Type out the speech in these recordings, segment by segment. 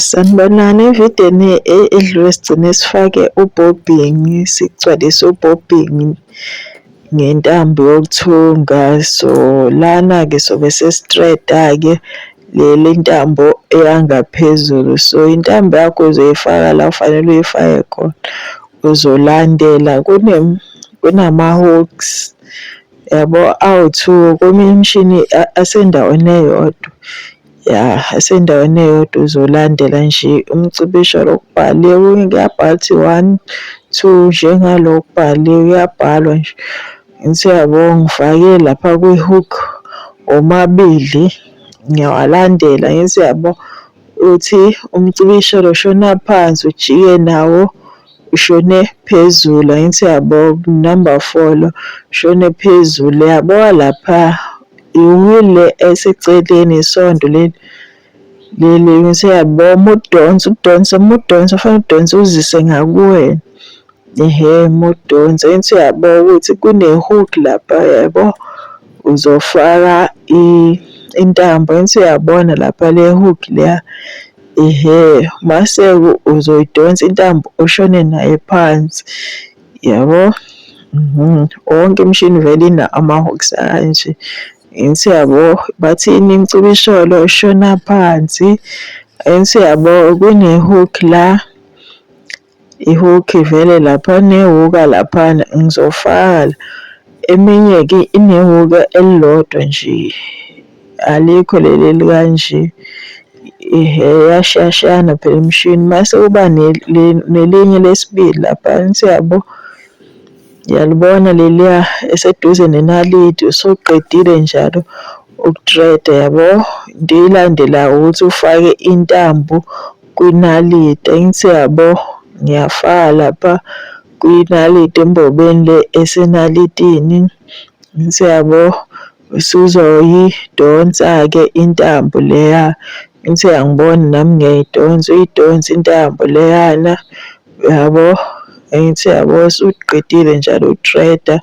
Sanibonani, evidiyweni edlule sigcine sifake ubhobhingi, sigcwalise ubhobhingi ngentambo yokuthunga. So, lana-ke sobe sesitreda-ke le le ntambo eya ngaphezulu. So, intambo yakho uzoyifaka la ofanele uyifake khona. Uzolandela kunama-hooks yabo awu-two, kweminye imishini asendaweni eyodwa. Yah esendaweni eyodwa uzolandela nje umcibisholo okubhale kuyabhala ukuthi one, two njengalo okubhale kuyabhalwa nje. Ngithi uyabo ngifake lapha kwi-hook womabili ngiyawalandela ngithi uyabo uthi umcibisholo shona phansi ujike nawo Ushone phezulu angithi yabo number four lo ushone phezulu yabo lapha iwile eseceleni isonto leli leli ngithi yabo mudonse udonse mudonse ufanele udonse uzise ngakuwena ehe mudonse angithi yabo ukuthi kune-hook lapha yabo uzofaka intambo angithi uyabona lapha le-hook leya Ehhe Maseko uzoyidonsa intambo ushone naye phansi yabo. Mhm. Wonke imishini vele ina ama-hooks anje. Angithi yabo bathini imcuba isholo ushona phansi. Angithi yabo kune-hook la. ihook ivele lapha newuka laphana ngizofaka la. Eminye-ke inewuka elilodwa nje, alikho leli elikanje. Ehhe, iyashiyashiyana phela imishini. Mase kuba nelinye lesibili laphana, siyabo? Uyalibona leliya eseduze nenaliti, usuqedile njalo uku-thread-a, yabo? Into eyilandelayo ukuthi ufake intambo. kwinaliti angithi yabo ngiyafaka lapha kwinaliti embobeni le esenalitini angithi yabo usuzoyidonsa-ke intambo leya angithi uyangibona nami ngiyayidonsa uyidonsa intambo leyana uyabo angithi uyabo usuqedile njalo uku-thread-a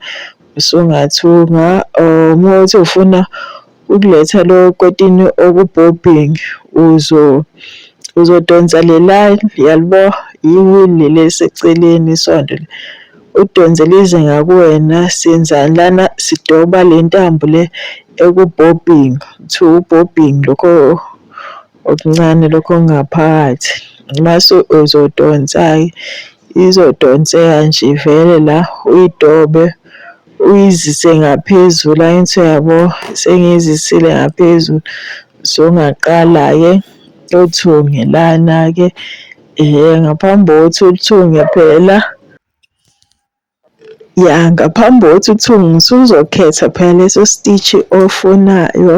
usungathunga or uma uthi ufuna ukuletha lo kotini okubhobbing uzo uzodonsa le line yalibo yiwili leseceleni isondo udonse lize ngakuwena senzani lana sidoba le ntambo le ekubhobbing kuthiwa ubhobbing lokho okuncane lokho ngaphakathi mase uzodonsa-ke izodonseka nje vele la uyidobe Uyizise ngaphezulu ayinso yabo sengiyizisile ngaphezulu songaqala-ke uthunge lana-ke um ngaphambi kokuthi uthunge phela ya ngaphambi kokuthi uthunge usuzokhetha phela leso stitch ofunayo